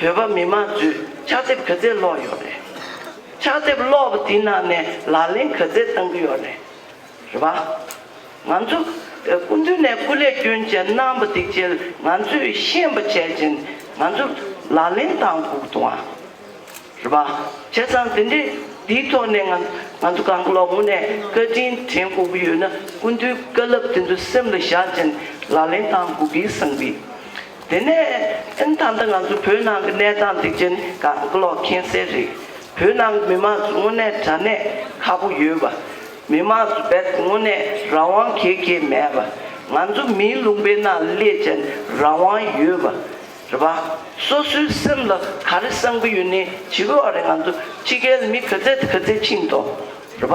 བོད་པ་མི་མང་ཚོས་ཕྱག་དེབ་ག་ཚད་ཀློག་ཡོད་རེད། ཕྱག་དེབ་ཀློག་པ་དེའི་ནང་ནས་ལག་ལེན་ག་ཚད་བཏང་གི་ཡོད་རེད། རེད་པ། ང་ཚོ་སྐུ་མདུན་ནས་སྐུ་ལས་སྐྱོན་ཅན་གནང་པ་འདི་འཇལ་ང་ཚོས་ཤེས་པ་བྱས་ཅན་ང་ཚོ་ལག་ལེན་བཏང་ཁུག་དུ་འང། རེད་པ། བྱས་ཙང་དེ་འདྲའི་དེའི་ཐོག་ནས་ང་ང་ཚོ་གང་ལོག་ངོ་ནས་བཀའ་དྲིན་དྲན་ཁུག་གི་ཡོད་ན་སྐུ་མདུན་བཀའ་ལབ་དེ་ཚོ་སེམས་ལ་བཞག་ཅན་ལག་ལེན་བཏང་ཁུག་གི་བསམ་གི། དེ་ནས་སེམས་ཐག་འདི་ང་ཚོའི་བོད་ནང་གི་གནས་སྟངས་འདི་ཅན་ག་གི་ཀློག་མཁྱེན་གསལ་རེད། བོད་ནང་གི་མི་མང་ཚོ་དངོས་གནས་དྲ་གནས་ཁ་པོ་ཡོད་པ། མི་མང་ཚོ་རྦད་དེ་དངོས་གནས་རང་དབང་གེ་གེ་མེད་པ། ང་ཚོ་མིའི་ལུང་པའི་ནང་སླད་ཅན་རང་དབང་ཡོད་པ། རེད་པ། སོ་སོའི་སེམས་ལ་ག་རེ་བསམ་གི་ཡོད་ནའི་བྱིས་པའི་བ་རེད་ང་ཚོ་ཕྱི་རྒྱལ་མི་ག་ཚད་དེ་ག་ཚད་ཕྱིན་ཏོ། རེད་པ།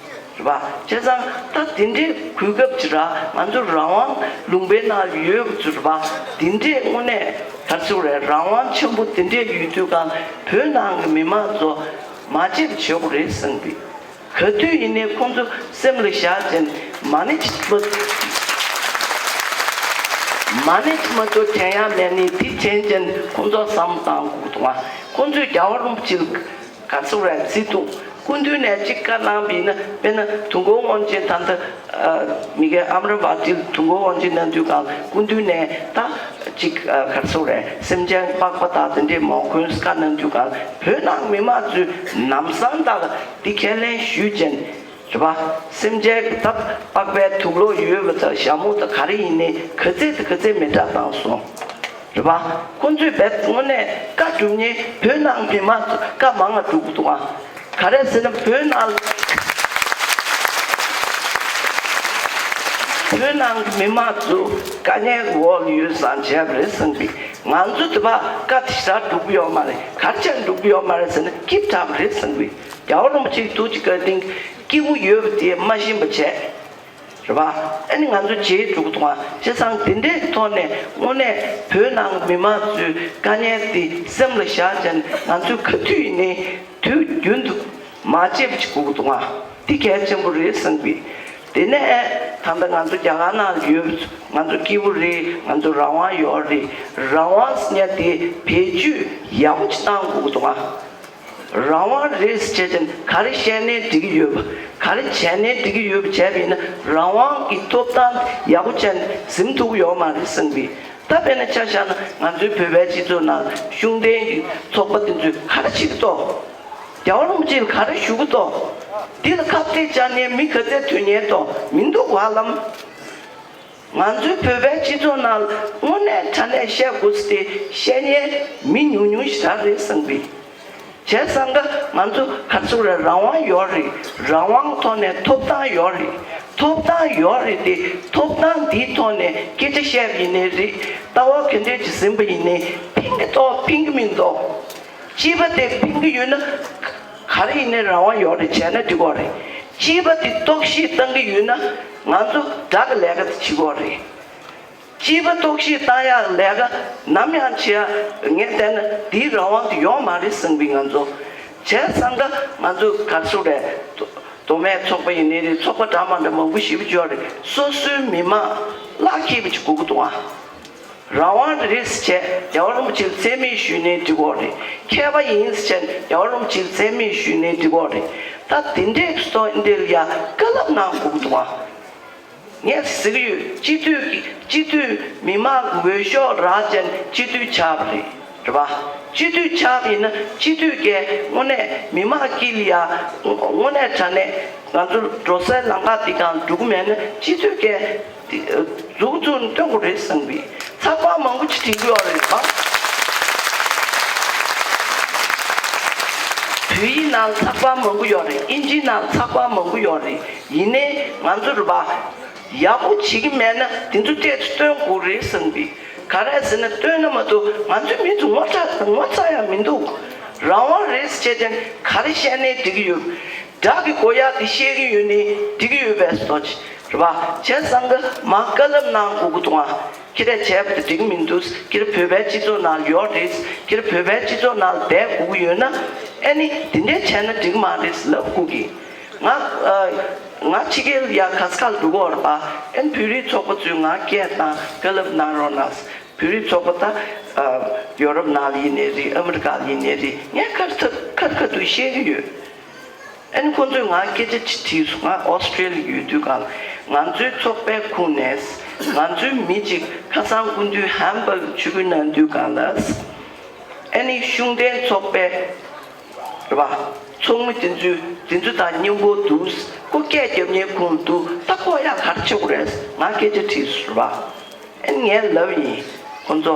བ། བྱས་ཙང་ད་འདི་འདྲའི་གོ་སྐབས་ཅི་ར་ང་ཚོ་རང་དབང་ལུང་པའི་ན་ཡོད་གི་ཚུར་བ་འདི་འདྲའི་དངོས་གནས་ད་ཚུར་རེད་རང་དབང་ཆེན་པོ་འདི་འདྲའི་ཡོད་དུས་ཀང་བོད་ནང་གི་མི་མང་ཚོ་མ་བརྗེད་བྱེད་དགོ་རེད་བསམ་གི། ག་དུས་ཡིན་ནའི་ཁོང་ཚོ་སེམས་ལ་བཞག་ཅན་མ་ནི་ཅི་མ་མ་ནི་ཅི་མ་ཚོ་དྲན་ཡ་མེད་ནི་དེ་དྲན་ཅན་ཁོང་ཚོ་བསམ་བཏང་གུག་ཏུ་ང་ཁོང་ཚོས་རྒྱ་བ་རུམ་བྱིལ། ཁ་ཚུགས་རན་ཚིག་ཐུག་སྐུ་མདུན་ནས་གཅིག་བཀའ་གནང་བས་ན་དཔེར་ན་དུང་འགོ་དབང་ཆེན་ཐ་མདའ་མི་དགེ་ཨམ་ར་བ་ཏིལ་དུང་འགོ་དབང་ཆེན་ན་དུས་གང་སྐུ་མདུན་ནས་ད་གཅིག་ཁར་ཚུགས་རན་སེམས་ཅན་དཔག་པ་དག་དེ་འདྲའི་མོ་ཀུན་སྐ་ན་དུས་གང་བོད་ནང་མི་དམངས་ཚོས་ནམ་སང་དག་ལ་འདི་ཁས་ལེན་ཞུས་ཅན། དྲི་བ། སེམས་ཅན་གྱི་རྟག་པར་པའི་ཐུགས་བློ་ཡོད་པ་དང་ཞྭ་མོ་དང་ག་རེ་ཡིན་ནི་ག་ཚད་དང་ག་ཚད་མི་འདྲ་གནང་སོང། དྲི་བ། ཁོང་ཚོས་བལ་དངོས་གནས་བཀའ་བསྒྲུབ་ནི་བོད་ནང་གི་མ་གཏོགས་བཀའ་མང་ང་བསྒྲུབ་དགོས་དང། ག་རེ་ཟེར་ན་བོད་ནང་ལ་བོད་ནང་གི་མི་མང་ཚོ་དཀའ་ངལ་འོག་ལ་ཡོད་སང་བྱས་པ་རེད་གསུངས་པས་ང་ཚོ་དེ་བ་བཀའ་དེ་ཞག་བསྒྲུབ་གི་ཡོད་མ་རེད་གར་ཆག་འགྲུབ་གི་ཡོད་མ་རེད་ཟེར་ན་སྐྱིད་དྲག་པ་རེད་གསུངས་པས། རྒྱ་བོད་རིན་པོ་ཆེའི་ཐུགས་ཀྱི་བཀའི་སྟེང་སྐྱེས་བུ་ཡོད་པ་དེའི་མ་ཞེན་པ་བྱས། རེད་པ། ཨ་ནི་ང་ཚོ་རྗེའི་འབྲུག་གི་ཐོག་མ་སྤྱི་བསང་འདི་འདྲའི་ཐོག་ནས་དངོས་གནས་བོད་ནང་མི་མང་ཚོའི་དཀའ་ངལ་འདི་སེམས་ལ་བཞག་བྱས་ནས་ང་ཚོའི་ག་དུས་ཡིན་ནའི་དུས་རྒྱུན་དུ་མ་བྱས་པ་ཞིག་གུག་ཐོག་མ་འདི་གལ་ཆེན་པོ་རེད་བསམ་གི། དེ་ནས་ཨེ་ད་ལྟ་ང་ཚོ་རྒྱ་གར་ནང་ཡོད་པ་ཚོ་ང་ཚོ་སྐྱེས་བུ་རེད་ང་ཚོ་རང་དབང་ཡོད་རེད་རང་དབང་སྙ་དེ་བེད་སྤྱོད་ཡག་པོ་ཅིག་བཏང་གུག་ཐོག་མ། རང་དབང་རེད་ཟེར་བྱས་ཙང་ག་རེ་བཤད་ནའི་འགྲིག་གི་ཡོད་པ་ག་རེ་བྱས་ནའི་འགྲིག་གི་ཡོད་པ་བྱས་པས་ན་རང་དབང་གི་ཐོབ་ཐང་ཡག་པོ་བྱས་ནས་གཟིམ་ཐུབ་གི་ཡོད་མ་རེད་གསུངས་པས་ད་དཔེར་ན་ཆ་བཞག་ན་ང་ཚོའི་བོད་པའི་སྤྱི་ཚོགས་ནང་ལ་གཞུང་འབྲེལ་གྱི་ཚོགས་པ་དེ་ཚོས་ག་རེ་བྱེད་ཀྱི་ཏོ། རྒྱ་བོ་རིན་པོ་ཆེས་ག་རེ་ཞུ་གི་ཏོ། འདི་ལ་ཁག་ཐེག་བྱ་ནའི་མི་ག་ཚད་ཐོན་ཉེན་ཏོ་མི་འདུག་བ་ལམ། ང་ཚོའི་བོད་པའི་སྤྱི་ཚོགས་ནང་དངོས་གནས་དྲ་ནས་བཤད་དགོས་ཚེ་བཤད་ཉན་མི་ཉུང་ཉུང་ཞིག་རག་རེད་བསམ་གི། བྱས་བསམ་ད་ང་ཚོ་ཧར་ཚུགས་ར་རང་དབང་ཡོད་རེད་རང་དབང་ཐོག་ནས་ཐོབ་ཐང་ཡོད་རེད་ཐོབ་ཐང་ཡོད་རེད་དེ་ཐོབ་ཐང་འདིའི་ཐོག་ནས་སྐད་ཆ་བཤད་པ་ཡིན་ནའི་རེད་ལྟ་བ་ག་འདྲའི་གྲི་ཟིན་པ་ཡིན་ནའི་ཕིང་གི་ཐོག་ཕིང་གི་མིན་ཐོག་སྤྱི་པ་དེ་ཕིང་གི་ཡོད་ན་ག་རེ་ཡིན་ནའི་རང་དབང་ཡོད་རེད་བྱས་ན་འགྲིག་གོ་རེད་སྤྱི་པ་དེ་རྟོག་ཤེས་བཏང་གི་ཡོད་ན་ང་ཚོ་བསྒྲགས་ཀྱི་ལས་ཀ་དེ་ཕྱི་གོག་རེད། སྤྱི་པ་རྟོག་ཤེས་བཏང་ཡག་གི་ལས་ཀ་ནམ་ཡང་བྱེད་ཡག་ངས་བལྟས་ན་འདིའི་རང་དབང་དེ་ཡོང་མ་རེད་བསམ་གི་ང་ཚོ་བྱས་བསམ་འདྲ་ང་ཚོ་གར་སོ་རེད། མདོ་སྨད་ཚོགས་པ་ཡིན་ནི་རེད་ཚོགས་པ་འདྲ་མ་འདྲ་མང་པོ་ཞིབ་བརྗོད་རེད་སོ་སོའི་མི་དམངས་ལག་ཁྱེད་པ་ཅིག་སྒུག་གི་འདུག་ཨ། རང་དབང་རེད་ཟེར་བྱས་རྒྱ་བ་རུམ་ཕྱིར་བཙན་མི་ཞུས་ནས་འདུས་གོག་རེད་མཁས་པ་ཡིན་ཟེར་བྱས་རྒྱ་བ་རུམ་ཕྱིར་བཙན་མི་ཞུས་ནས་འདུས་གོག་རེད་ད་དེ་འདྲའི་བསོད་འདེར་ཡ་ཀ་ལབ་ན་འགུག་འདུག་ཨང། ངས་གཟིགས་ཡོད་སྤྱི་འཐུས་ཀྱི་སྤྱི་འཐུས་མི་དམངས་ཀྱི་འོས་ཤོག་རག་ཅན་སྤྱི་འཐུས་ཆགས་པ་རེད་བ། སྤྱི་འཐུས་ཆགས་པ་ཡིན་ན་སྤྱི་འཐུས་ཀས་དངོས་གནས་མི་དམངས་སྐྱིད་ཡ་དངོས་གནས་དྲ་གནས་ང་ཚོ་འགྲོ་སའི་ལམ་ཁ་འདི་དང་འགྲོ་གི་མེད་ན་སྤྱི་འཐུས་ཀས་གཟུགས་ཚུར་འདོན་དགོས་རེད་གསུངས་པས་ཚགས་པར་མང་པོ་ཆེ་འབྲི་དགོས་རེད་པ། བོད་ཡིག་ནང་ཚགས་པར་མང་པོ་ཡོད་རེད་དབྱིན་ཇིའི་ནང་ཚགས་པར་མང་པོ་ཡོད་རེད་ཡིན་ནའི་ང་ཚོ་རུ་བ་ཡག་པོ་བྱེད་ཀྱི་མེད་ན་དེ་ཚོ་སྤྲད་དུ་སྟོན་དགོས་རེད་གསུངས་པས་ག་རེ་ཟེར་ན་སྟོན་ན་མ་གཏོགས་ང་ཚོའི་མི་ཚོ་ངོ་ཚ་ཡང་མི་འདུག་རང་དབང་རེད་ཟེར་བྱས་ཀྱང་ག་རེ་བཤད་ནའི་འགྲིག་གི་ཡོད། སྒྲག་གི་གོ་ཡ་དེ་བཤད་གི་ཡོད་ནི་འགྲིག་གི་ཡོད་པས་སོ། རེད་པ། བྱས་ཙང་ཀ་མ་ཀ་ལབ་ན་མགོ་དགུ་ཐུང་ཨ། ཁྱེད་རས་བྱས་པ་དེ་འགྲིག་གི་མི་འདུག་ཁྱེད་བོད་པའི་སྤྱི་ཚོགས་ནང་ཡོག་རེད། ཁྱེད་བོད་པའི་སྤྱི་ཚོགས་ནང་སྦས་དགུ་གི་ཡོད་ན། ཨེ་ནི་དེ་འདྲས་བྱས་ན་འགྲིག་གི་མ་རེད་ལབ་དགུ་གི། ང། ང་ཕྱི་རྒྱལ་ཡ་ག་ས་ཁ་ལ་འགྲོ་གི་འོ་རེད་པ། ཨེ་ནི་བོད་རིགས་ཚོགས་པ་ཚོའི་ང་སྐད་དང་ཀ་ལབ་གནང་རོགས་གནང། བོད་རིགས་ཚོགས་པ་ད། ཡོ་རོབ་ནང་ལ་ཡིན་ནི་རེད་ཨ་མི་རི་ཀ་ལ་ཡིན་ནི་རེད་ངས་ཁ་རི་ཐབ་ཁ་རི་ཁ་ཐུག་བཤད་གི་ཡོད། ཨན། ཁོ་ཚོས་ང་སྐད་ཆ་ཅི་དྲིས་སུ་ང Australia ལ་ཡོད་དུས་གང་ང་ཚོའི་ཚོགས་པའི་ཁུངས་ནས་ང་ཚོའི་མི་གཅིག་ཁ་སང་སྐུ་མདུན Hamburg ཆུ་བོའི་ནང་དུས་གང་ལ་ཨན་ནི་གཞུང་འབྲེལ་ཚོགས་པའི་རེད་པ་ཚོགས་མི་དེ་ཚོའི་དེ་ཚོ་དང་མཉམ་པོ་འདུག་སྐུ་སྐད་རྒྱབ་གཉེར་ཁུངས་ལ་འདུག་ད་ཁོག་ཡག་གར་ཆོག་རེད་ང་སྐད་ཆ་དྲིས་སུ་རེད་པ་ཨན་ངས་ལབ་ཡིན་ཁོ་ཚོ་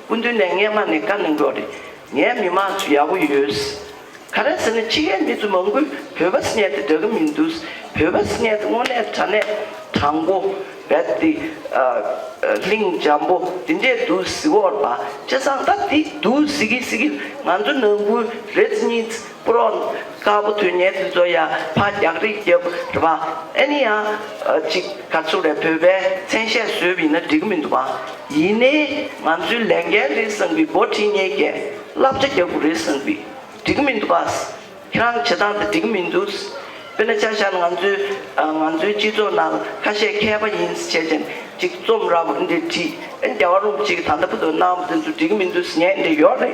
སྐུ་མདུན་ནས་རྔན་མ་ནས་བཀའ་གནང་རོགས་རེད་ངའི་མི་མང་ཚོ་ཡག་པོ་ཡོད། ག་རེ་ཟེར་ན་ཕྱི་ཡའི་མི་ཚོ་མང་པོས་བོད་པ་སྙད་དེ་འདྲ་གི་མི་འདུག་བོད་པ་སྙད་དེ་དངོས་གནས་དྲ་གནས་དྲང་པོ་བད་དེ་གླིང་འཇམ་པོ་དེ་འདྲས་འདུག་གཟི་འོག་པ་ལྕེ་བཟང་ལྟ་དེ་འདུག་གཟི་གི་གཟི་གི་ང་ཚོ་ནང་ཁུལ་རེས་གཉིས་པུ་རོ། དཀར་པོ་དུས་ངན་དུས་ཚོད་ཡ། ཕ་རྒྱག་རིགས་རྒྱབ། རེད་པ། ཨེ་ནི་ཡང། ཅིག་ག་ཚུགས་རེད་བོད་པའི་མཚན་ཤས་བཟོས་བི་ན་འགྲིག་གི་མི་འདུག་བ། ཡིན་ནའི། ང་ཚོའི་ལས་འགན་རེད་བསམ་བི་འབོ་ཁྲི་གཉེས་ཀས་བསླབ་བྱ་རྒྱག་གུ་རེད་བསམ་བི། འགྲིག་གི་མི་འདུག་བ། ཁྱེད་རང་བྱེད་སྟངས་དེ་འགྲིག་གི་མི་འདུག། དཔེར་ན་ཆ་བཞག་ན་ང་ཚོའི། ང་ཚོའི་སྤྱི་ཚོགས་ནང་ཁ་ཤས་མཁས་པ་ཡིན་ཟེར་བྱས་ཅན་ཅིག་རྩོམ་ར་བུ་འདི་བྲིས། ཨེ་ནི་རྒྱ་བ་རུ་ཅིག་ད་ལྟ་བུ་དོ་སྣང་བ་དེ་ཚོ་འགྲིག་གི་མི་འདུག་ངས་འདི་ཡོག་རེད།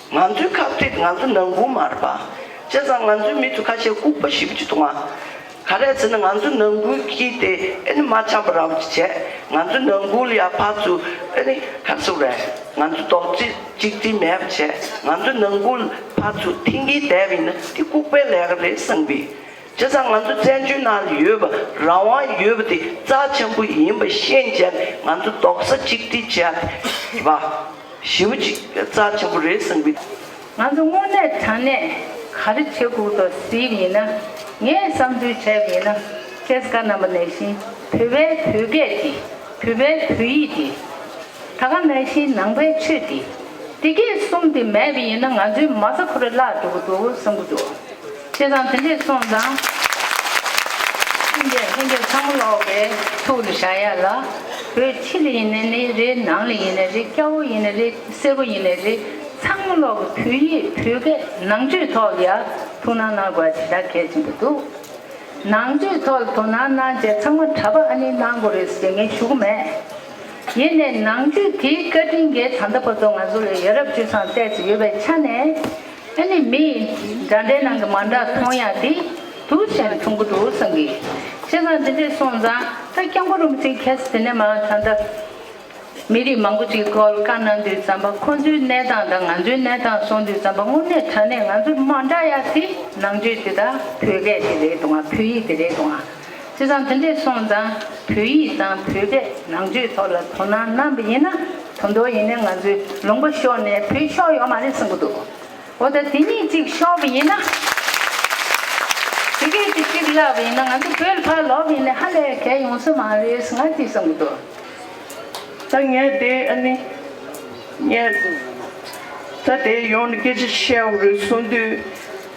ང་ཚོའི་ཁག་ཐེག་ང་ཚོ་ནང་ཁུལ་མར་པ། བྱས་ཙང་ང་ཚོའི་མི་ཚོ་ཁ་ཤས་ལྐུགས་པ་ཞིབ་བརྗོད་དུ་མ། ག་རེ་ཟེར་ན་ང་ཚོ་ནང་ཁུལ་གྱིས་དེ་ཨེ་ནི་མ་ཆགས་པ་ར་བོ་ཅི་བྱས་ང་ཚོའི་ནང་ཁུལ་ཡག་ཕག་ཚོ་ཨེ་ནི་ཁ་སུག་རེད་ང་ཚོ་རྡོག་རྫིས་གཅིག་རྫིས་མེད་པ་བྱས་ང་ཚོའི་ནང་ཁུལ་ཕག་ཚོ་མཐིང་གིས་བསྡད་པ་ཡིན་ན་དེ་ལྐུགས་པའི་ལས་ཀ་རེད་བསམ་གི། སྤྱིར་ཚང་ང་ཚོ་བཙན་བྱོལ་ནང་ལ་ཡོད་པ་རང་དབང་ཡོད་པ་དེ་རྩ་ཆེན་པོ་ཡིན་པ་ཤེས་བྱས་ནས་ང་ཚོ་རྡོག་རྩ་གཅིག་སྒྲིལ་བྱས་ཏེ་བ་ཞིའུ་གཅིག་རྩ་ཆེན་པོ་རེད་བསམ་གི། ང་ཚོ་དངོས་གནས་དྲང་གནས་ག་རེ་བྱེད་དགོས་དོ་ཟིའི་མི་ན་ངས་བསམ་ཚུལ་བྱས་མི་ན་ཁེས་ག་རྣམ་པ་ནས་བཞིན་བོད་པའི་བོད་སྐད་དེ་བོད་པའི་བོད་ཡིག་དེ། ད་ག་ནས་ཤིང་ནང་པའི་ཆོས་འདི། དེ་སྐད་གསུངས་ཏེ་མེད་པ་ཡིན་ན་ང་ཚོའི་མ་རྩ་ཁུ་རུ་བརླག་འགྲོ་གི་འགྲོ་འོ་བསམ་གི་འདུག་བྱས་ཙང་དེ་འདྲས་སོང་ཙང། ཁྱིམ་རྒྱལ་ལྷན་རྒྱལ་ཚང་མ་ལོག་པའི་ཐུགས་ལ་བཞག་ཡ་ལ། བོད་ཕྱི་ལ་ཡིན་ནས་ནི་རེད་ནང་ལ་ཡིན་ནས་རེད་སྐྱ་བོ་ཡིན་ནས་རེད་སེར་པོ་ཡིན་ནས་རེད་ཚང་མ་ལོག་གི་བོད་ཡིག་བོད་སྐད་ནང་ཆོས་ཐོག་ལ་ཡ་ཐུགས་སྣང་གནང་དགོས་ཞེ་དྲག་གལ་ཆེན་པོ་འདུག་ནང་ཆོས་ཐོག་ལ་ཐུགས་སྣང་གནང་རྗེས་ཚང་མ་གྲྭ་པ་ཨ་ནི་གནང་དགོས་རེད་ཟེར་མཁན་ཞུ་གི་མེད། ཡེ་ནས་ནང་རྒྱུད་དེའི་བཀའ་དྲིན་རྒྱལ་དམ་ཟླ་བ་ཚོ་ང་ཚོ་ལས་ཡ་རབས་སྤྱོད་བཟང་གསལ་གྱི་ཡོད་པའི་ཆ་ནས་ཨ་ནི་མི་ཡི་འདྲ་འདྲའི་ནང་གི་མ་འདྲ་མཐོང་ཡ་དེ་དུ་ཞེན་འཁྲུང་གི་འདུག་བསམ་གི། བཤད་བཟང་འདི་འདྲས་སོང་ཙང་ད་སྐྱབས་མགོན་རུང་ཚིག་མཁས་ཟེར་ནས་མ་ད་ད། མི་རིགས་མང་པོ་ཅིག་བཀོལ་བཀའ་གནང་དུས་ཙམ་པ་ཁོང་ཚོའི་གནས་སྟངས་དང་ང་ཚོའི་གནས་སྟངས་སོང་དུས་ཙམ་པ་དངོས་གནས་དྲ་གནས་ང་ཚོ་མ་འདྲ་ཡ་དེ་ནང་རྒྱུད་དེ་ད་བོད་སྐད་དེ་རེད་འདུག་ང་བོད་ཡིག་དེ་རེད་འདུག་ང། བྱས་ཙང་དེ་འདྲས་སོང་ཙང་བོད་ཡིག་དང་བོད་པའི་ནང་ཆོས་ཐོག་ལ་དོ་སྣང་གནང་བ་ཡིན་ན་དོན་རྡོ་ཡིན་ནའི་ང་ཚོའི་ལུང་པ་ཤོར་ནས་བོད་ཤོར་ཡོག་མ་རེད་གསུང་གི་འདུག་འོ་ད་དེ་གཉིས་གཅིག་ཤོར་བ་ཡིན་ན་དེ་སྐད་དུ་གཅིག་བརླག་པ་ཡིན་ན་ང་ཚོ་བོད་ལ་ཕར་ལོག་པ་ཡིན་ནའི་ཧ་ལས་གལ་ཡོང་ས་མ་རེད་ཟེར་ང་གཅིག་གསུང་གི་འདུག་ད་ངས་དེ་ཨ་ནི་ངས་ད་དེ་ཡོང་ནས་སྐད་ཆ་བཤད་འོག་རེད་གསུང་དུས།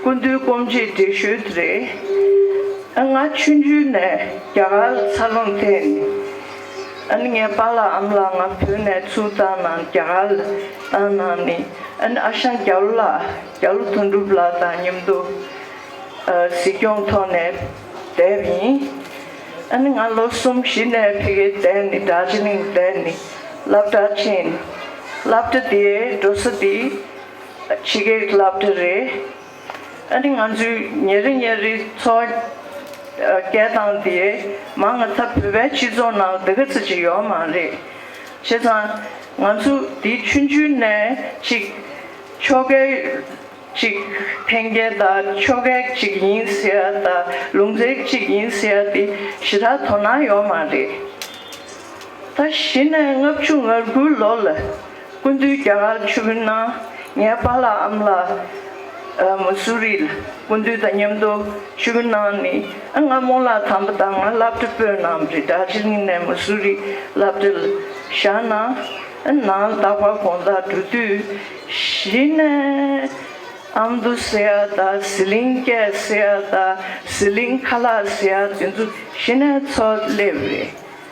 སྐུ་མདུན་སྐོམ་རྗེས་འགྲེལ་ཞུ་དེ་རེད། ཨ་ང་ཆུང་དུས་ནས་རྒྱ་གར་ལ་འཚར་ལོངས་ཐེབས་ནས་ཨ་ནི་ངའི་པཱ་ལགས་ཨམ་ལགས་ང་བོད་ནས་ཚུར་བཏང་ན་རྒྱ་གར་ལ་བཏང་ན་ནི་ཨ་ནི་ཨ་ཞང་རྒྱ་ལོ་ལགས་རྒྱ་ལོ་དོན་གྲུབ་ལགས་དང་མཉམ་དུ་གཟིགས་སྐྱོང་ཐོག་ནས་བསྡད་པ་ཡིན། ཨ་ནི་ང་ལོ་གསུམ་བཞི་ནས་ཕེ་གེ་བསྡད་ནས་སྒྲ་ཇི་ལིང་བསྡད་ནས་སླབ་གྲྭ་ཕྱིན། སླབ་གྲྭ་དེའི་འགྲོ་ས་དེ། ཕྱི་རྒྱལ་གྱི་བསླབ་གྲྭ་རེད། ཨ་ནི་ང་ཚོས་ཉིན་རེ་ཉིན་རེ་འཚོ་བ་སྐྱེལ་སྟངས་དེ་མང་ང་ཚ་བོད་པའི་སྤྱི་ཚོགས་ནང་འདི་ག་ཚིག་གཅིག་ཡོད་མ་རེད། བྱས་ཙང་ང་ཚོ་འདིའི་ཆུང་ཆུང་ནས་ཅིག་ཆོ་གའི་ཅིག་འཕེན་རྒྱལ་དག་ཆོ་གའི་ཅིག་ཡིན་ཟེར་ཡ་དག་ལུང་ཚའི་ཅིག་ཡིན་ཟེར་ཡ་དེ་ཞི་དྲག་དོ་སྣང་ཡོད་མ་རེད། ད་གཞི་ནས་ལྔ་བཅུ་ང་དགུ་ལོ་ལ། སྐུ་མདུན་རྒྱ་གར་ཆུ་བོའི་ནང་ངའི་པཱ་ལགས་ཨམ་ལ་མུ་སུ་རི་ལ་སྐུ་མདུན་དང་མཉམ་དུ་ཆུ་བོའི་ནང་ནས་ང་རྨོ་ལགས་དམ་པ་དང་ང་བླ་བྲེ་སྤོས་རྣམས་རི་དྭགས་ཆེ་གླིང་ནས་མུ་སུ་རི་བླ་བྲེ་ལ་བཞག་ན་ནང་རྟག་པར་དགོངས་དག་འགྲོ་དུས་གཞི་ནས་ཨམ་དུ་སེ་ཨ་ད་ཟི་ལིང་སྐད་སེ་ཨ་ད་ཟི་ལིང་ཁ་ལག་སེ་ཨ་དེ་ཚོ་གཞི་ནས་ཚོ་སླེབས་རེད།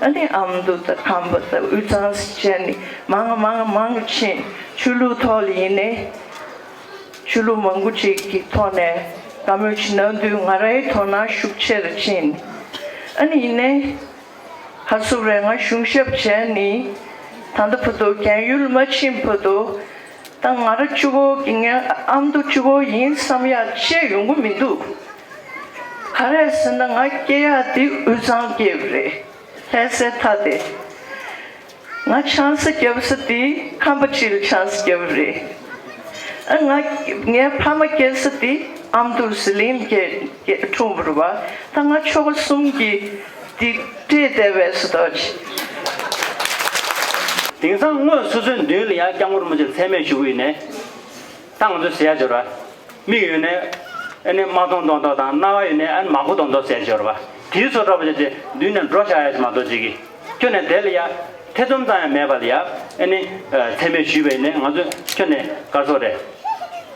ཨ་ནེ་ཨ་མདོ་དང་ཁམས་པ་དང་དབུས་གཙང་སྲིད་ཆེན་ནི་མང་མང་མང་ཕྱིན་ཆོས་ལུགས་ཐོག་ལ་ཡིན་ནའི། ཆོས་ལུགས་མང་པོ་ཅིག་གི་ཐོག་ནས་བཀའ་མོལ་ཇི་གནང་དུས་ང་རའི་དོ་སྣང་ཤུགས་ཆེ་རུ་ཕྱིན། ཨ་ནེ་ཡིན་ནའི། ཁ་གསུབ་རེ་ང་གཞུང་ཞབས་བྱས་ནི། ད་ལྟ་བོད་དོ་གན་ཡུལ་མ་ཕྱིན་བོད་དོ། ད་ང་ར་ཅུ་བོ་གི་ངའི་ཨ་མདོ་ཅུ་བོ་ཡིན་བསམ་ཡག་བཤད་ཡོང་གི་མི་འདུག་ག་རེད་ཟེར་ན་ང་སྐྱེ་ཡག་དེ་དབུས་གཙང་སྐྱེ་བ་རེད་ལྷས་སའི་མཐའ་དེ་ང་ཆང་ས་སྐྱེ་བ་ས་དེ་ཁམས་པ་ཁྲི་ལ་ཆང་ས་སྐྱེ་བ་རེད་ཨ་ང་ངའི་ཕ་མ་སྐྱེ་ས་དེ་ཨ་མདོ་ཟི་ལིང་སྐྱེ་འཁྲུངས་བར་བ་ད་ང་ཆོ་ག་གསུམ་གྱི། ཏིག་ཏིག་དེ་བས་སུ་དོ་ཅི། དེང་སང་སྔོན་སུ་ཚོད་མདུན་ལ་ཡང་སྐྱབས་མགོན་རིན་པོ་ཆེ་ཚད་མེད་བཞུགས་ཡོད་ནས། ད་ང་ཚོ་ཟས་སྦྱོར་བ་མིག་ཡོད་ནས་ཨེ་ནས་མ་མཐོང་མདོག་མདོག་དང་རྣ་བ་ཡོད་ནས་ཨེ་ནས་མ་གོ་མདོག་མདོག་ཟས་སྦྱོར་བ་དེའི་ཚོ་འདྲ་པོ་ཆེ་དེ་མདུན་ནས་འགྲོ་བཞག་ཡ་ཆེ་མ་གཏོགས་ཅི་གི། ཁྱོད་ནས་དེ་ལ་ཡ་ཐེ་ཚོམ་ཙམ་ཡང་མེད་པ་ལ་ཡ་ཨེ་ནས་ཚད་མེད་བཞུགས་པས་ནས་ང་ཚོ་ཁྱོད་ནས་དཀར་ཚོགས་རེད།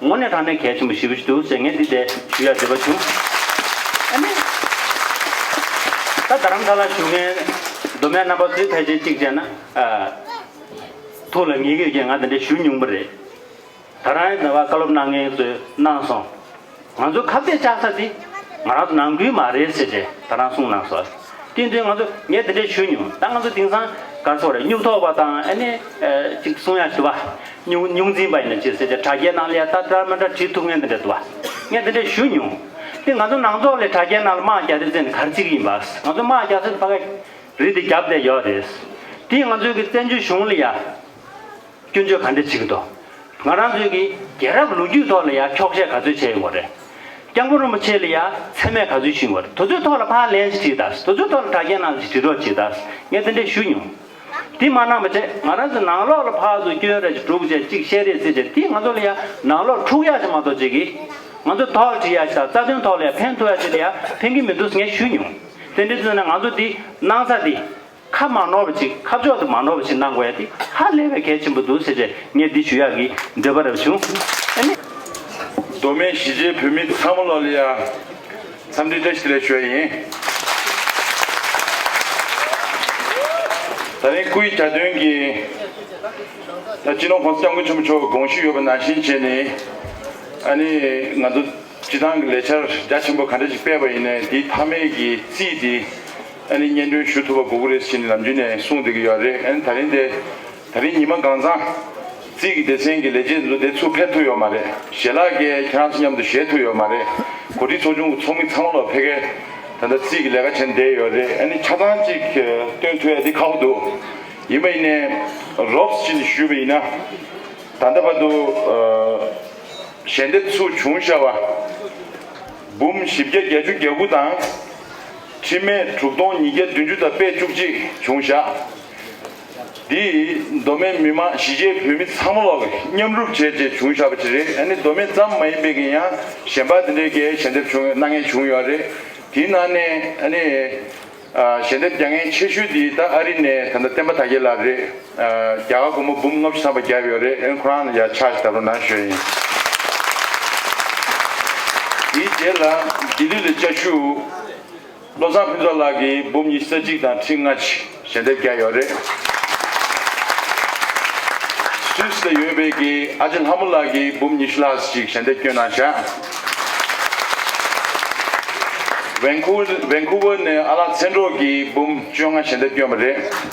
ངོ་ནས་དྲང་གནས་གལ་ཆེན་པོ་ཞིག་བཞུ་འདུག་ཟེར་ངས་འདི་ལྟའི་ཞུ་ཡ་འདྲི་བ་བྱུང། ཨ་ནི། ད་རྡ་རམ་ས་ལ་བཞུགས་མཁན་མདོ་སྨད་རྣམ་པ་ཚོའི་ཕལ་ཆེར་གཅིག་བྱས་ན། ཐུགས་ལ་ངེས་ཡོད་རྐྱེན་ང་འདི་འདྲའི་ཞུ་ཉུང་པོ་རེད། ད་རང་ཡས་འདི་བ་བཀའ་སློབ་གནང་མཁན་ཚོས་གནང་སོང། ང་ཚོའི་ཁ་བརྡས་བཅག་ས་འདི་ང་རང་ཚོ་ནང་ཁུལ་མ་རེད་ཟེར་བྱས་ད་རང་གསུངས་གནང་སོ། བསྟུན་དོན་ང་ཚོ་ངས་འདི་འདྲས་ཞུས་མྱོང་ད་ང་ཚོ་དེང་སང་ག་ཚོད་རེད་སྨྱུག་ཐོགས་པ་དང་ཨ་ནེ་ཅིག་གསུང་ཡ་ཞུ་བ་སྨྱུག་སྨྱུག་འཛིན་པ་ཡིན་ན་ཅི་ཟེར་ཏེ་དྲ་རྒྱའི་ནང་ལས་ད་དྲ་མི་དྲ་བྲིས་ཐུབ་ངས་འདི་འདྲས་དུ་བ་ངས་འདི་འདྲས་ཞུས་མྱོང་དེ་ང་ཚོ་ནང་ཚོགས་ལས་དྲ་རྒྱའི་ནང་ལ་དམག་རྒྱག་རེས་ཟེར་ནས་ག་རེ་ཅིག་ཡིན་པ་ང་ཚོ་དམག་རྒྱག་ཚོད་ཕ་ག་རེད་དེ་རྒྱབ་བསྡད་ཡོད་རེད་དེ་ང་ཚོའི་གི་བཙན་བྱོལ་གཞུང་ལ་ཡ། སྐྱོན་བརྗོད་ག་འདྲས་བྱེད་ཀྱི་འདུག་ང་རང་ཚོའི་གི་རྒྱལ་རབས་ལོ་རྒྱུས་ཐོག་ལ་ཡང་འཁྱོག་བཤད་ག་ཚོད་བྱས་ཡོང་བ་རེད། སྐྱབས་མགོན་རིན་པོ་ཆེ་ལ་ཡང་མཚན་སྨད་ག་ཚོད་ཞུས་ཡོང་བ་རེད་དུ་ཚོད་ཐོག་ལ་ཕར་ལན་ཞིག་བྲིས་དང་དུ་ཚོད་ཐོག་ལ་དྲ་རྒྱའི་ནང་ཞིག་བྲིས་གྲོགས་བྱས་དང་ངས་དེ་འདྲས་ཞུས་མྱོང། དེ་མ་གནང་པ་བྱས་ང་རང་ཚོའི་ནང་ལོག་ལ་ཕར་ཚོ་སྐྱོན་རེ་བྱས་དྲུག་བྱས་གཅིག་བཤད་རེ་ཟེར་བྱས་དེ་ང་ཚོ་ལ་ཡང་ནང་ལོག་འཁྲུག་ཡག་ཞིག་མ་གཏོགས་བྱེད་གི་ང་ཚོ་དོགས་འདྲི་ཡག་ཞིག་དང་རྩ་དོན་ཐོག་ལ་ཡང་ཕན་ཐོག་ཡག་ཅིག་ལ་ཡང་ཕན་གྱི་མི་འདུག་ངས་ཞུས་མྱོང་དེ་འདྲས་ཚོད་ནས་ང་ཚོ་དེ་གནང་ས་དེ། ཁ་མ་ནོར་བ་ཅིག་ཁ་ཕྱོགས་སུ་མ་ནོར་བ་ཞིག་གནང་དགོས་ཡ་འདི་ཧ་ལས་པའི་གལ་ཆེན་པོ་འདུག་ཟེར་རྗེས་ངས་འདི་ཞུ་ཡག་གི་འདོད་པ་རེ་བ་བྱུང། ཨ་ནི། མདོ་སྨད་གཞིས་བྱེས་བོད་མི་ཚང་མ་ལོ་ལེགས་ཡ། འཚམས་འདྲི་བཀྲ་ཤིས་ལེགས་ཞུ་བ་ཡིན། ད་རིང་སྐུའི་གྱ་སྟོན་གྱི་ད་སྤྱི་ནོར ྋགོང་ས ྋསྐྱབས་མགོན་ཆེན་པོ་མཆོག་གི་དགོངས་ཞུ་ཡོད་པ་ནང་བཞིན་བྱས་ནས། ཨ་ནི། ང་ཚོ་སྤྱི་བཏང་གི་ལས་འཆར་རྒྱ་ཆེན་པོ་ག་འདྲ་ཞིག་སྤེལ་བ་ཡིན་ནའི་འདིའི་མཐའ་མའི་གི་རྩིས་འདི་ཨ་ནི་སྙན་སྒྲོན་ཞུ་ཐུབ་པ་དགོས་ཀྱི་རེད་ཟེར་ནས་ལམ་རྒྱུད་ནས་གསུངས་བསྡད་ཀྱི་ཡོད་རེད་ཨ་ནི་ད་རིང་དེ་ད་རིང་ཉི་མ་གང་ཚང། རྩིས་ཀྱི་སྡེ་ཚན་གྱི་ལས་བྱེད་ཚོ་དེ་ཚུར་ཕེབས་ཐུབ་ཡོད་མ་རེད་ཞལ་ལག་སྐྱེལ་ཡས་ཁྱེད་རང་ཚོ་མཉམ་དུ་བཞེས་ཐུབ་ཡོད་མ་རེད་གོ་སྒྲིག་ཚོགས་ཆུང་གི་ཚོགས་མི་ཚང་མ་ལོ་ཕེ་ཁའི་ད་ལྟ་རྩིས་ཀྱི་ལས་ཀ་བྱེད་བསྡད་ཡོད་རེད་ཨ་ནི་ཆ་ཚང་གཅིག་སྟོན་ཐུབ་ཡས་དེ་ཁག་པོ་འདུག་ཡིན་པ་ཡིན་ནས་རོབས་ཅི་ནས་ཞུས་པ་ཡིན་ན། ད་ལྟ་བར་དུ་ཞལ་འདེབས་ཚུགས་བྱུང་ཤ་བ་འབུམ་བཞི་བརྒྱ་བརྒྱད་ཅུ་གྱ་དགུ་དང། ཁྲི་སྨད་དྲུག་སྟོང་ཉིས་བརྒྱ་བདུན་ཅུ་དང་པད་བཅུ་གཅིག་འབྱུང་བཞག། འདི་ཡིས་མདོ་སྨད་མི་མང་གཞིས་བྱེས་བོད་མི་ཚང་མ་ལ་མཉམ་རུབ་བྱས་རྗེས་བྱུང་བཞག་པ་ཅིག་རེད་ཨ་ནི་མདོ་སྨད་ཙམ་མ་ཡིན་པའི་གིན་ཡང་གཞན་པ་འདི་འདྲའི་གའི་ཞལ་འདེབས་བྱུང་ཡོད་སྣང་ངན་བྱུང་ཡོད་རེད་དེའི་ནང་ནས་ཨ་ནི། ཞལ་འདེབས་རྒྱ་ངན་ཆེ་ཤོས་འདི་ད་ཨ་རི་ནས་ད་ལྟ་བསྟན་པ་དར་རྒྱས་ལགས་རེད། རྒྱ་གར་སྒོར་མོ་འབུམ་ལྔ་བཅུ་ཐམ་པ་བརྒྱབ་ཡོད་རེད་ཨེ་ཁོ་རང་ལ་ཡར་ཆགས་བྱེད་ད་ལོ་ནང་ཞོལ་ཡིན། དེའི་རྗེས་ལ་ལྡི་ལི་ལ་བཅའ་བཞུགས། བློ་བཟང་ཕུན་ཚོགས་ལགས་ཀྱིས་འབུམ་ཉི་ས་གཅིག་དང་ཁྲི་ལྔ་ཆིག་ཞལ་འདེབས་བརྒྱབ་ཡོད་རེད། Swiss ལ་ཡོད་པའི་གི་ཨ་ཅེ་ལྷ་མོ་ལགས་ཀྱིས་འབུམ་ཉི་ཤུ་ལྷག་ཅིག་ཞལ་འདེབས་བསྐྱོན་གནང་བྱ། Vancouver ནས་ཨ་ལགས་མཚན་གྲོགས་ཀྱིས་འབུམ་བཅོ་ལྔ་ཞལ་འདེབས་བསྐྱོན་པ་རེད།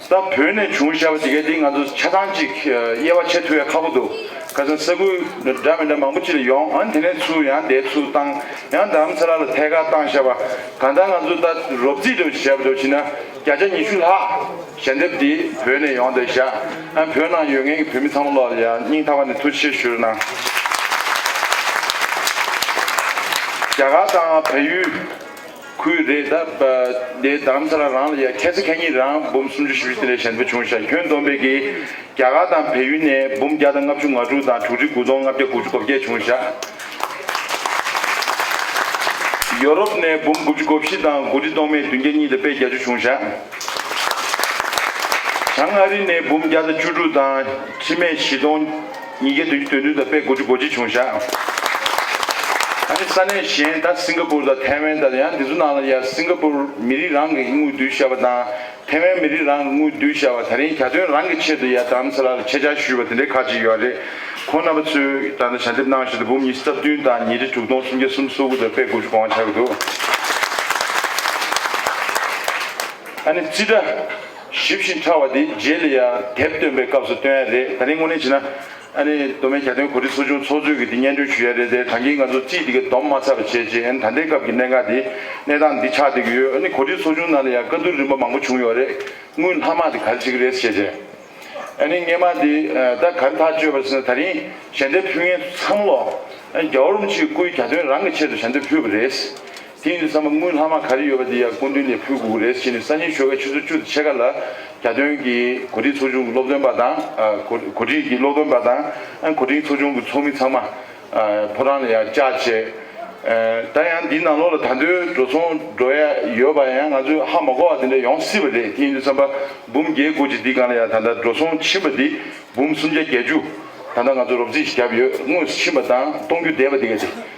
ས་བོད་ནས་བྱུང་ཞེས་པ་དེ་གའི་དེ་ང་ཚོ་ཆ་ཚང་གཅིག་དབྱེ་བ་ཕྱེ་ཐུ་ཡ་ཁག་པོ་འདུག་ཁ་སང་ས་ཁུལ་འདྲ་མི་འདྲ་མང་པོ་ཅི་ལ་ཡོང་ཨ་ནི་དེ་ནས་ཚུར་ཡང་དེའི་ཚུར་བཏང་ཡང་དར་མཚེ་ལ་ལ་ཐད་ཀར་བཏང་ཞེས་པ་གང་ལྟར་ང་ཚོ་ད་རོབ་རྩིས་དུ་ཞེས་པ་དུ་བྱིན་ན་བརྒྱ་ཆ་ཉི་ཤུ་ལྷག་ཞལ་འདེབས་དེ་བོད་ནས་ཡོང་འདུག་བཞག་ཨ་བོད་ནང་ཡོད་མཁན་གྱི་བོད་མི་ཚང་མ་ལོག་ལ་ཡང་སྙིང་ཐག་པ་ནས་ཐུགས་ཆེ་ཞུ་རེ་གནང། རྒྱ་གར་དང་བལ་ཡུལ། ཁུལ་རེ་ད་ལྟའི་དམ་ཚ་ལ་རང་ལ་ཡ་ཁྱད་ཚ་ཁྱད་གཉིས་རང་འབུམ་སུམ་ཅུ་བཞི་བཅུ་དེ་ལས་གཞན་པོ་བྱུང་ཞག་ཁྱོན་བསྡོམས་པས་ཀྱི་རྒྱ་གར་དང་བལ་ཡུལ་ནས་འབུམ་བརྒྱ་དང་ལྔ་བཅུ་ང་དྲུག་དང་དྲུག་ཁྲི་དགུ་སྟོང་ལྔ་བརྒྱ་དགུ་བཅུ་གོ་བརྒྱད་བྱུང་ཞག་ཡོ་རོབ་ནས་འབུམ་དགུ་བཅུ་གོ་བཞི་དང་དགུ་ཁྲི་སྟོང་མེད་བདུན་བརྒྱ་གཉིས་དང་དཔེ་བརྒྱ་བཅུ་བྱུང་ཞག་བྱང་ཨ་རི་ནས་འབུམ་བརྒྱ་དང་བཅུ་དྲུག་དང་ཁྲི་མེད་བཞི་སྟོང། ཉིས་བརྒྱད་དོན་བཅུ་དོན་བདུན་དང་པའི་དགུ་བཅུ་གོ་གཅིག་བྱུང་བཞག། ད་ནི་ས་གནས་གཞན་ད་སིང་ག་པུར་དང་ཐའེ་ཝན་ད་ཡང་འདི་ཚོ་ནང་ལ་ཡར་སིང་ག་པུར་མི་རིགས་རང་གི་དངུལ་བསྡུ་བྱ་བ་དང་ཐའེ་ཝན་མི་རིགས་རང་གི་དངུལ་བསྡུ་བྱ་བ་ད་རིང་གྱ་སྟོན་རང་གི་ཆེད་དུ་ཡར་དམ་ཚ་ལ་ལ་ཁྱེད་ཅག་བཞུས་པ་དེ་འདྲའི་ཁག་ཅིག་ཡོད་རེད། ཁོང་རྣམ་པ་ཚོས་ད་ལྟ་ཞལ་འདེབས་གནང་བཞིན་དུ་འབུམ་ཉིས་སྟབས་བདུན་དང་ཉིས་ཁྲི་དྲུག་སྟོང་སུམ་བརྒྱ་སུམ་སོ་དགུ་དང་པའི་དགུ་བཅུ་གོ་ལྔ་ཆགས་ཀྱི་འདུག་ད་ནི་རྩིས་ཁྲ། ཞིབ་ཅིང་ཕྲ་བ་དེ་རྗེས་ལ་ཡང་དེབ་བཏོན་པའི་སྐབས་སུ་སྟོན་ཡ་རེད་ད་རིང་དངོས་གནས་བྱས་ན་ཨ་ནི་མདོ་སྨད་གྱ་སྟོན་གོ་སྒྲིག་ཚོགས་ཆུང་ཚོགས་གཙོས་ཀྱིས་དེ་སྙན་སྒྲོན་ཞུ་ཡ་རེད་དེ་གྲངས་ཀྱིས་ང་ཚོ་རྩིས་འདི་ག་བསྡོམས་མ་ཚར་བ་བྱས་རྗེས་ཨ་ནི་ད་ལྟའི་སྐབས་ཀྱི་གནད་འགག་དེ་གནས་སྟངས་འདི་ཆགས་བསྡད་ཀྱི་ཡོད་ཨ་ནི་གོ་སྒྲིག་ཚོགས་ཆུང་ནང་ལ་ཡང་བཀའ་བསྡུར་རིམ་པ་མང་པོ་བྱུང་ཡོད་རེད་དངུལ་ལྷག་མ་དེ་ག་རེ་བྱེད་ཀྱི་རེད་བྱས་རྗེས་ཨ་ནི་སྔས་མ་དེ་ད་ག་རེ་ཐག་གཅོད་པར་ཟེར་ན་ད་རིང་ཞལ་འདེབས་ཕུལ་མཁན་ཚོ་ཚང་མ་ལོ་ཨ་ནི་རྒྱ་བོར་རུམ་ཆིག་སྐུའི་གྱ་སྟོན་རང་གི་ཆེད་དུ་ཞལ་འདེབས་ཕུལ་བ་རེད། དེ་ཡིན་ས་མ་དངུལ་ལྷག་མ་ག་རེ་ཡོད་པ་དེ་ཡང་སྐུ་མདུན་ནས་ཕུལ་དགོས་ཀྱི་རེད་ཟེར་ནས་སང་ཉིན་ཆོལ་ཁ་ཆུ་ཚོད་བཅུ་དང་ཕྱེད་ཀ་ལ་གྱ་སྟོན་གྱི་གོ་སྒྲིག་ཚོགས་ཆུང་གི་སློབ་སྟོན་པ་དང་གོ་སྒྲིག་གི་སློབ་སྟོན་པ་དང་གོ་སྒྲིག་ཚོགས་ཆུང་གི་ཚོགས་མི་ཚང་མ་ཕོ་བྲང་ལ་ཡང་བཅར་བྱས། ད་ཡང་འདིའི་ནང་ལོགས་ལ་ད་འདོད་འགྲོ་ཚོང་འགྲོ་ཡ་ཡོད་པ་ཡང་ང་ཚོས་ཧ་མ་གོ་བ་དེ་འདྲ་ཡོང་སྲིད་པ་རེད་དེ་ཡིན་དུས་ཚན་པ་འབུམ་བརྒྱད་བསྐོར་གྱི་འདི་གང་ལ་ཡང་ད་ལྟ་འགྲོ་ཚོང་ཕྱིན་པ་འདི་འབུམ་སུམ་བརྒྱ་བརྒྱད་ཅུ་ད་ལྟ་ང་ཚོ་རོབ་རྩིས་བཞག་ཡོད་དངོས་སུ་ཕྱིན་པ་དང་གཏོང་རྒྱུ་བསྡད་པ་འདི་ག་དེ།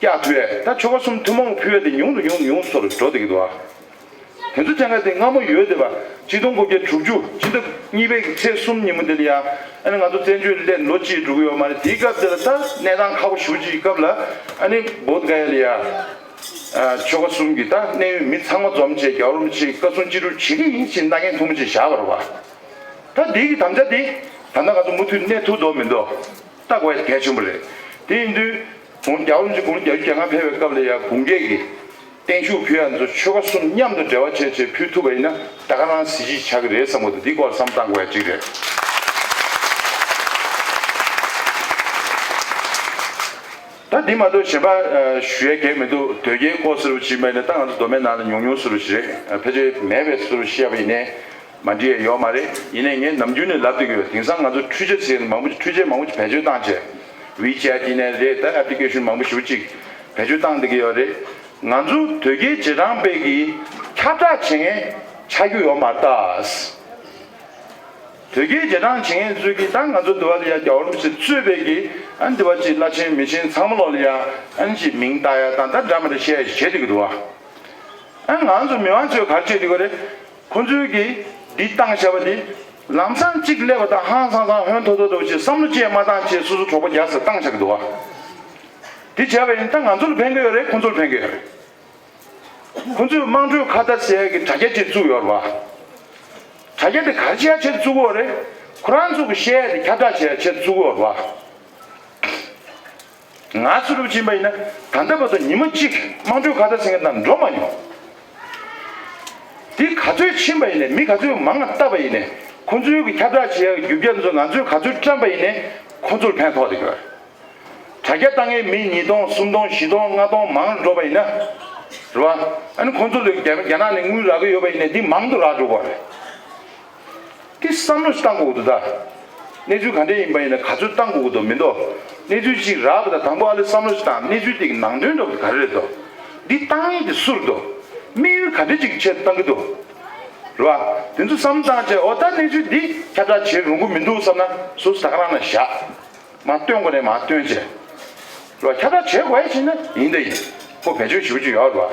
སྐྱ་ཐོད་ད་ཆོ་ག་གསུམ་ཐུན་མོང་གི་ཕུལ་བས་དེ་ཉུང་དུ་ཉུང་དུ་ཉུང་སོར་འགྲོ་བདེ་གི་འདུག་ཨ། དེ་ཚོ་སྤྱང་ཀ་དེ་སྔ་མོ་ཡོད་དེ་བ་གཅིག་སྟོང་དགུ་བརྒྱ་དྲུག་ཅུ་སྤྱི་ཟླ་གཉིས་པའི་གི་ཚེས་གསུམ་ཉིན་མོ་དེ་ལ་ཡ་ཨ་ནི་ང་ཚོ་བཙན་བྱོལ་སླེབས་ལོ་གཅིག་འགྲོ་གི་ཡོད་མ་རེད་དེའི་སྐབས་དེ་ལ་ད་གནས་སྟངས་ཁག་པོ་བཞུགས་ཅིག་སྐབས་ལ་ཨ་ནི་བོད་དགའ་ཡ་ལི་ཡ་ཆོ་ག་གསུམ་གི་ད་གནས་ཡུལ་མི་ཚང་མ་འཛོམས་བཅས་རྒྱ་བོར་མི་ཆེ་ཀ་སུང་གཅིག་དྲུག་བྱེད་གི་ཡིན་ཕྱིན་མནའ་གན་ཐུང་མོ་ཅིག་བཞག་པ་རོགས་པ་ད་དེའི་གི་དམ་བཅའ་དེ་ད་ནང་ང་ཚོ་མུ་མཐུད་གནས་ཐུག་འདོག་མི་འདོག་ད་དགོས་གལ་ཆེན་པོ་རེད་དེ་ཡིན་དུས་དགུང་གྱ་བོ་ནས་དགུང་གྱ་བཅུ་གྱ་ལྔ་འཕེལ་བའི་སྐབས་ལ་ཡང་དགུང་བརྒྱད་ཀྱི་བརྟན་བཞུགས་ཕུལ་བ་ཚོ་ཆོལ་ཁ་གསུམ་མཉམ་དུ་འབྲེལ་བ་བྱས་བྱས་ཕུལ་ཐུབ་པ་ཡིན་ན་ད་ག་རང་གཟི་བརྗིད་ཆགས་ཀྱི་རེད་བསམ་གོ་འདི་སྐོར་བསམ་བཏང་དགོས་ཡ་གཅིག་རེད། ད་འདི་མ་གཏོགས་གཞན་པ་ཞུ་ཡ་གེགས་མི་འདུག་དོལ་རྒྱལ་སྐོར་ཟེར་བ་ཞིག་མ་ཡིན་ན་ད་ང་ཚོ་མདོ་སྨད་ནང་ལ་ཉུང་ཉུང་ཟེར་བ་ཞིག་རེད་ཕལ་ཆེར་མེད་པའི་ཟེར་བ་ཞིག་ཡ་པ་ཡིན་ནའི་མ་འདྲིས་ཡོད་མ་རེད་ཡིན་ནས་ངས་ནམ་རྒྱུན་ནས་ལབ་དེ་གི་རེད་དེང་སང་ང་ཚོ་འཕྲུལ་ཆས་ཟེར་མང་པོ་ཅིག་འཕྲུལ་ཆས་མང་པོ་ཅིག་བེད་སྤྱོད་བཏང་རྗེས་བྷི་ཅལ་ཏི་ནས་རེད་ད application མང་པོ་ཞིག་ཅིག་བེད་སྤྱོད་བཏང་དེ་གི་ཡོད་རེད་ང་ཚོ་དོལ་རྒྱལ་རྗེས་འབྲང་དཔེ་གི་ཁྱབ་བསྒྲགས་བྱེད་མཁན་ཆགས་རྒྱུ་ཡོད་མ་རེད་དོལ་རྒྱལ་རྗེས་འབྲང་བྱེད་མཁན་ཚོས་གི་ད་ང་ཚོ་འདི་བ་ལི་ཡ་རྒྱ་བོར་མི་ཚེ་གཙོས་དཔེ་གི་ཨན་འདི་བ་ཅིག་བླ་ཆེན་མི་ཆེན་ཚང་མ་ལོག་ལི་ཡ་ཨན་ཅིག་མིང་བཏགས་ཡ་དང་ད་འདྲ་མ་རེད་བཤད་བྱེད་དེ་གི་འདུག་ཨ་ང་ཚོ་མི་དམངས་ཚོས་གར་བྱེད་དེ་གི་རེད། ཁོ་ཚོས་ཀྱིས་འདི་བཏང་བྱ་བ་འདི། ལམ་སང་གཅིག་སླེབས་པ་དང་ཧང་སང་སང་ཧོན་ཐོ་ཐོ་འདུག་ཅེས་བསམ་བློ་བཅས་མ་བཏང་ཆེད་སོ་སོ་གྲོགས་པོ་རྒྱག་ས་བཏང་བྱ་གི་འདུག་དེ་བྱས་པ་ཡིན་ད་ང་ཚོ་ལ་ཕན་གི་ཡོད་རེད་ཁོ་ཚོ་ལ་ཕན་གི་ཡོད་རེད། ཁོ་ཚོས་དམངས་ཁྲོད་ཁ་བརྡ་ཟེར་གི་དྲ་རྒྱ་ཅིག་བཙུགས་ཡོད་རེད་པ། དྲ་རྒྱ་དེ་གར་བྱས་ཆེད་བཙུགས་འོ་རེད་ཁོ་རང་ཚོ་གི་བཤད་ཡས་དེ་ཁྱབ་བསྒྲགས་བྱས་ཡས་ཆེད་བཙུགས་འོ་རེད་པ། ང་ཚོ་སློབ་ཆེན་པ་ཡིན་ན་ད་ལྟ་བར་དུ་ཉིན་མོ་གཅིག་དམངས་ཁྲོད་ཁ་བརྡ་ཟེར་མཁན་དང་འགྲོགས་མ་མྱོང། འདི་ག་ཚོད་ཕྱིན་པ་ཡིན་ནས་མི་ག་ཚོད་མང་ང་བཏབ་པ་ཡིན་ནས་ཁོ་ཚོའི་གི་ཁྱབ་བསྒྲགས་བྱེད་ཡག་གི་རྒྱུ་རྒྱ་མཚོ་ང་ཚོས་ག་ཚོད་བཀྲམས་པ་ཡིན་ནས་ཁོ་ཚོར་ཕན་ཐོག་དེ་གི། དྲ་རྒྱ་བཏང་མཁན་མི་ཉིས་སྟོང་གསུམ་སྟོང་བཞི་སྟོང་ལྔ་སྟོང་མང་རུ་འགྲོ་པ་ཡིན་ན་རེད་བ། ཨ་ནི་ཁོ་ཚོ་ལོས་རྒྱ་ནག་ནས་དངུལ་རག་གི་ཡོད་པ་ཡིན་ནས་འདི་མང་དུ་རག་འགྲོ་དགོས་རེད། དེ་བསམ་བློ་གཏང་དགོས་འདུག་ད། གནས་ཚུལ་ག་འདྲས་ཡིན་པ་ཡིན་ན་ག་ཚོད་གཏང་དགོས་འདུག་མི་འདུག་གནས་ཚུལ་གཅིག་རག་གི་ད་དང་པོ་ཨ་ལེ་བསམ་བློ་ཞིག་གཏང་གནས་ཚུལ་དེ་གི་ནང་དོན་འདྲ་ག་རེ་རེད་འདུག་འདི་གཏང་ཡིན་དེ་སུ་རེད་འདུག་དམིགས་ཡུལ་ག་འདྲས་ཅིག་གི་ཆེད་དུ་གཏང་གི་འདུག་རེད་བ། དེ་ཚོ་བསམ་བཏང་རྗེས་འོ་ད་གནས་ཚུལ་འདི་ཁྱབ་བསྒྲགས་བྱེད་རུང་གི་མི་འདུག་བསམ་ན་སུ་ཟ་ཁ་རང་ན་བཞག་མ་བཏོན་དགོས་རེད་མ་བཏོན་རྗེས་རེད་བ་ཁྱབ་བསྒྲགས་བྱེད་དགོས་ཡ་བྱེད་ན་ཡིན་ད་ཡིན་ཁོ་བེད་སྤྱོད་བྱེད་པོ་ཅིག་ཡོད་རེད་བ།